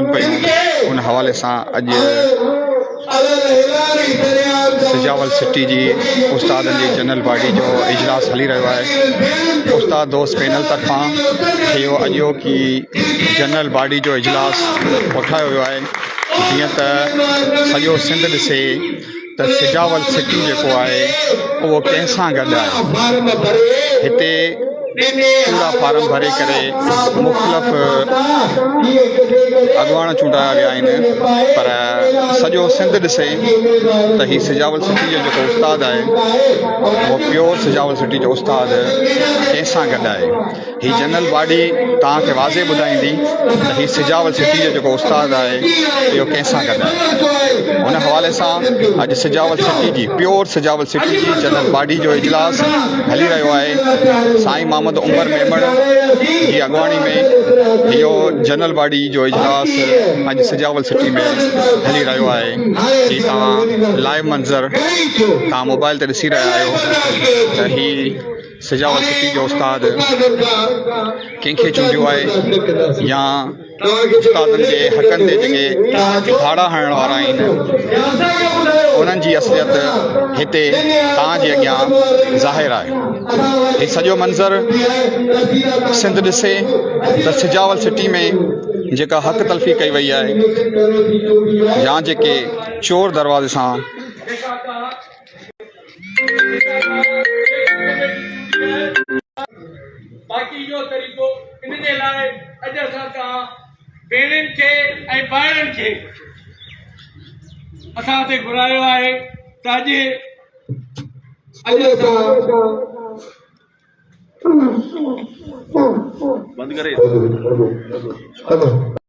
ڪم پئي هوندي ان حوالي سان اڄ سجاول سٽي جي استادن جي جنرل باڊي جو اجلاس هلي رهيو آهي استاد دوست پينل طرفان اهو اڄو ڪي جنرل باڊي جو اجلاس اٺايو ويو آهي جيئن ته سڄو سنڌ ڏسي ته سجاول سٽي جيڪو آهي اهو ڪنهن سان گڏ آهي هتي چونڊا فارم ڀري ڪري مختلف اڳواڻ چونڊايا ويا آهن پر سڄو سنڌ ڏسي ته هي سجاول سٽي جو جيڪو استاد آهي اهو پيور سجاول سٽي جو استاد ڪنهن سان گڏ آهي هي جنرل باڊي توهان کي واضح ٻڌائيندي ته هي سجاول سٽي جو جيڪو استاد آهي اهو ڪنهن سان گڏ آهي ان حوالي سان اڄ سجاول سٽي جي پيور سجاول سٽي جي جنرل باڊي جو اجلاس هلي رهيو آهي سائين محمد عمر ميمڻ جي اڳواڻي ۾ اهو جنرل باڊي جو اجلاس اڄ سجاول سٽي ۾ هلي رهيو آهي جي توهان لائيو منظر توهان موبائل تي ڏسي رهيا آهيو ته هي سجاول سٽي جو استاد ڪنهن کي چونڊيو آهي يا استادن جي حقن تي جيڪي ڌاڙا هڻڻ وارا آهن انهن جي اصليت هتي توهان جي اڳيان ظاهر آهي هي سڄو منظر سنڌ ڏسي ته سجاول سٽي ۾ جيڪا حق تلفي ڪئي وئي آهي يا جيڪي چور دروازي سان باقي جو طريقو ان جي لاء اڄ اسان توهان ڀيڻين کي ۽ ڀائرن کي اسان هتي گهرايو آهي ته اڄ اڄ اسان بند ڪري